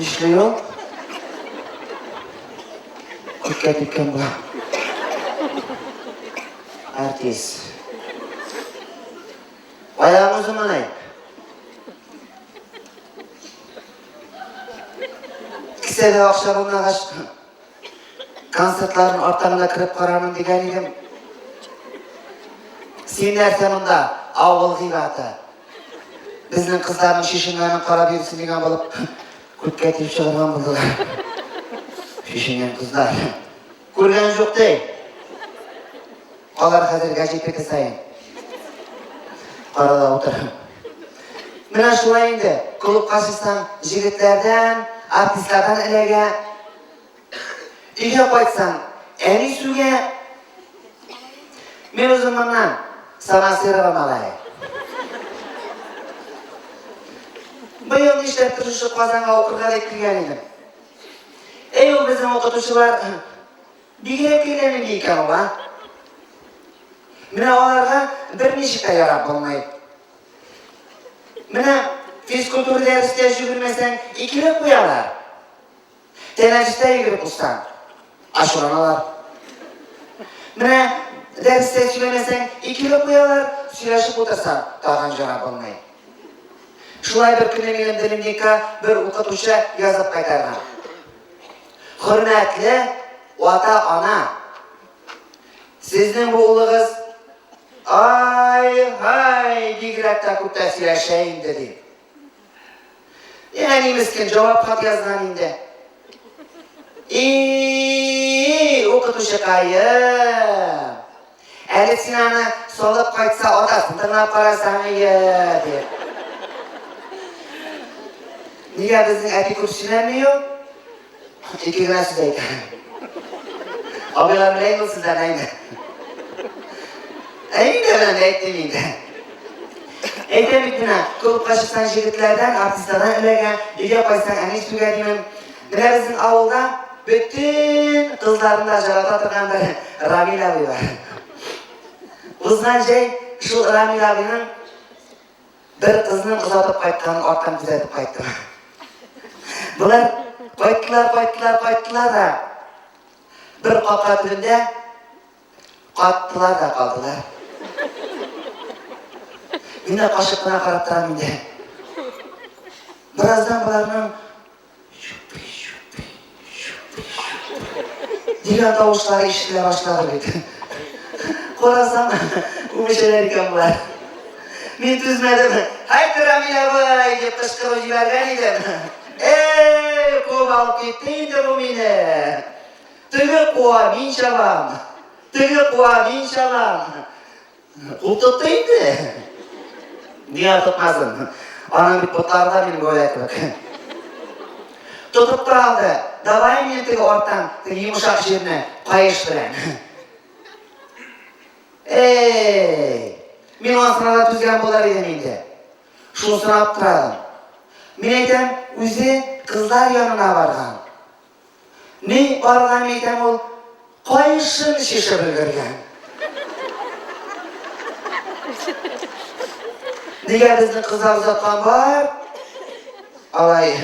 Нишләй ул? Күпкә киткән була. Артист. Аягы заманай. Кесәдә акча булмагач, Концертларын арттан гына кереп карармын дигән идем. Син нәрсә монда? Авыл зираты. Безнең кызларның шешеннәрен карап йөрсен дигән булып, күпкә тиеп чыгарган булдылар. Шешенгән кызлар. Күргән юк ди. Алар хәзер гәҗитеке саен арада утыра. Менә шулай инде, клубка чыксаң, җегетләрдән, артистлардан эләгә. Өйгә кайтсаң, әни сүгә. Мин үзем моннан Самасырова малае. Быел нишләп тырышып Казанга укырга дип килгән идем. Әй, ул безнең укытучылар Бигрәк кенә нинди икән ул, а? Менә аларга берничек тә ярап булмый. Менә физкультура дәрестә җөгермәсәң, икеле куялар. Тәнәфестә йөгереп узсаң, ашыраналар. Менә дәрестә сөйләмәсәң, икеле куялар, сөйләшеп утырсаң, тагын җара булмый. Шулай бер көнне минем дневникка бер укытучы язып кайтарган. Хөрмәтле ата-ана, сезнең бу улыгыз ай-һай бигрәк тә күп тә сөйләшә инде ди. Әни мескен җавап хат язган инде. И, укытучыкаем. Әле син аны салып кайтса атасын тыңлап карасаң ие дип. Нигә безнең әти күп сөйләми ул? Ике генә сүз әйтә. Абыйлар белән ул сүзләр әйтә. Әйдә белән әйтте инде. Әйтә бит менә, клубка чыксаң егетләрдән, артистлардан эләгә, өйгә кайтсаң әни сүгә димен. Берәресен авылда бөтен кызларны да жарата торган бер Рамил абый бар. Узган җәй шул Рамил абыйның бер кызны озатып кайтканын арттан күзәтеп кайттым. Болар кайттылар, кайттылар, кайттылар да бер капка төбендә каттылар да калдылар. Мин дә кашык кына карап торам инде. Бераздан боларның Дигән тавышлар ишетелә башлады бит. Карасам, үбешәләр икән болар. Мин түзмәдем. Һәйт, Рамилә бай, дип кычкырып җибәргән идем. Эй, куып алып китте инде бу мине. Теге куа, мин чабам. Теге куа, мин чабам. Ул тотты инде. Нигә тотмасын? Аның бит ботлары да минем гөя кебек. Тотып тора алды. Давай мені теге арттан, теге йомшак җирне каеш белән. Эй! Мин аңа сынарга түзгән булар идем инде. Шуны сорап торадым. Мин әйтәм, үзе кызлар янына барган. Мин карган идем ул каешын чишеп өлгергән. Нигә безнең кызлар озаткан бар? Алай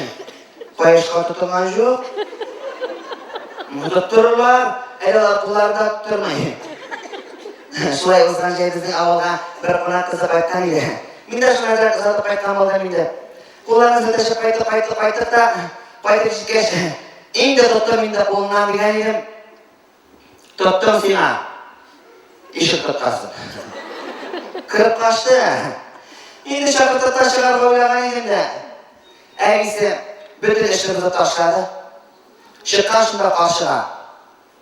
каешка тотынган жоқ. Тоттырырлар, әле алар кулларында тотырмай. Шулай узган җәй безнең авылга бер кунак кызы кайткан иде. Мин дә шуңа да озатып кайткан булдым инде. Кулларны сәтәшеп кайтып, кайтып, кайтып та, кайтып җиткәч, инде тоттым инде кулыннан дигән идем. Тоттым сиңа. Ишек тоткасы. Кырып кашты. Инде чакыртып та чыгарга уйлаган идем дә. Әнисе бөтен эшне бозып ташлады. Чыккан шунда каршыга.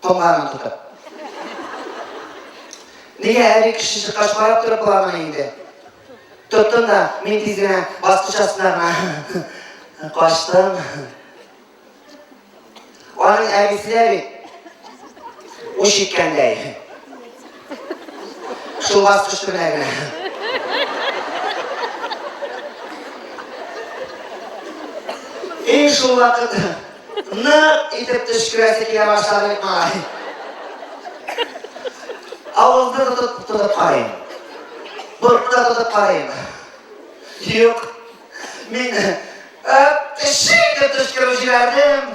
Томаран тотып. Нигә әби кеше чыккач карап торып буламы инде? Тоттым да, мин тиз генә баскыч астына гына качтым. Аның әбисе дә бит уч иткәндәй. Шул баскыч белән генә. И шул вакыт нык итеп төшкерәсе килә башлады бит малай. Авызны тотып тотып карыйм. Борынны тотып карыйм. Юк. Мин тешек итеп төшкереп җибәрдем.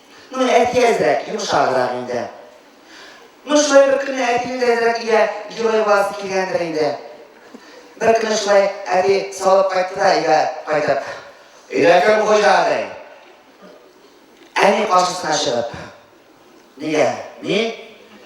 Ну, әти әзрәк, йомшаграк инде. Ну, шулай бер көнне әтине дә әзрәк өйдә герой буласы килгәндер инде. Бер көнне шулай әти салып кайтты да өйгә кайтып. Өйдә кем хуҗа ди? Әни каршысына чыгып. Нигә? Мин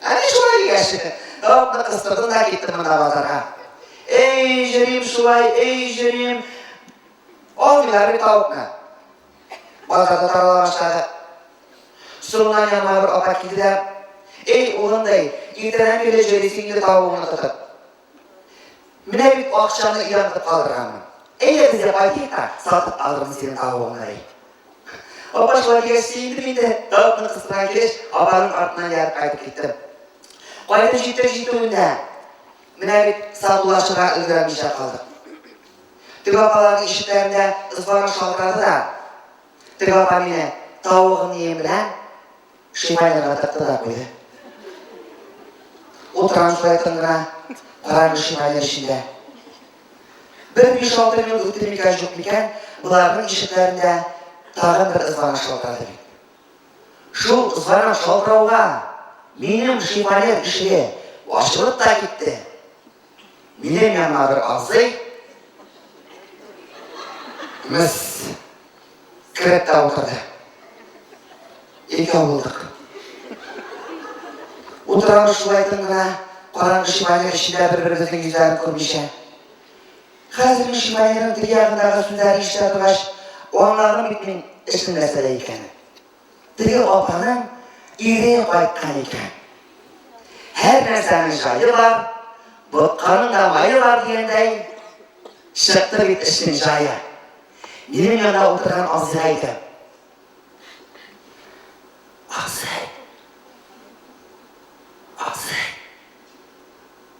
Әни шулай дигәч, Робны кыстырдым да киттем мына базарга. Эй, җырим шулай, эй, җырим. Алмыйлар бит тавыкны. Базарда тарала башлады. Соңыннан яныма бер апа килде дә, Эй, улым, ди, иртәдән бирле җөрисең инде тавыгыңны тотып. Менә бит акчаны өйдән тотып калдырганмын. Әйдә безгә кайтыйк та, сатып алырмын синең тавыгыңны, ди. Апа шулай дигәч сөендем инде. Тавыкны кыстырган килеш, апаның артыннан ярып кайтып киттем. Кайтып җитеп җитүенә, менә бит сатулашырга өлгермичә калдык. Теге апаларның ишекләрендә ызбарың шалтырады да, теге апа мине тавыгын ем белән Шимайларга тыкты да куйды. Ул транслейтын гына караңгы шимайлар эчендә. Бер биш-алты минут үтте микән, юк микән, боларның ишекләрендә тагын бер звонок шалтырады бит. Шул звонок шалтырауга минем шимайлар ишеге ачылып та китте. Минем янына бер абзый мыс кереп тә утырды. Икәү булдык. Утырамыз шулай тын гына, караңгы шимайның эчендә бер-беребезнең йөзләрен күрмичә. Хәзер мин шимайның теге ягындагы сүзләрен ишетә торгач, аңладым бит мин эшнең нәрсәдә икәнен. Теге апаның ире кайткан икән. Һәр нәрсәнең җае бар, ботканың да мае бар дигәндәй, чыкты бит эшнең җае. Минем янда утырган абзыйга әйтәм. Абзый, абзый,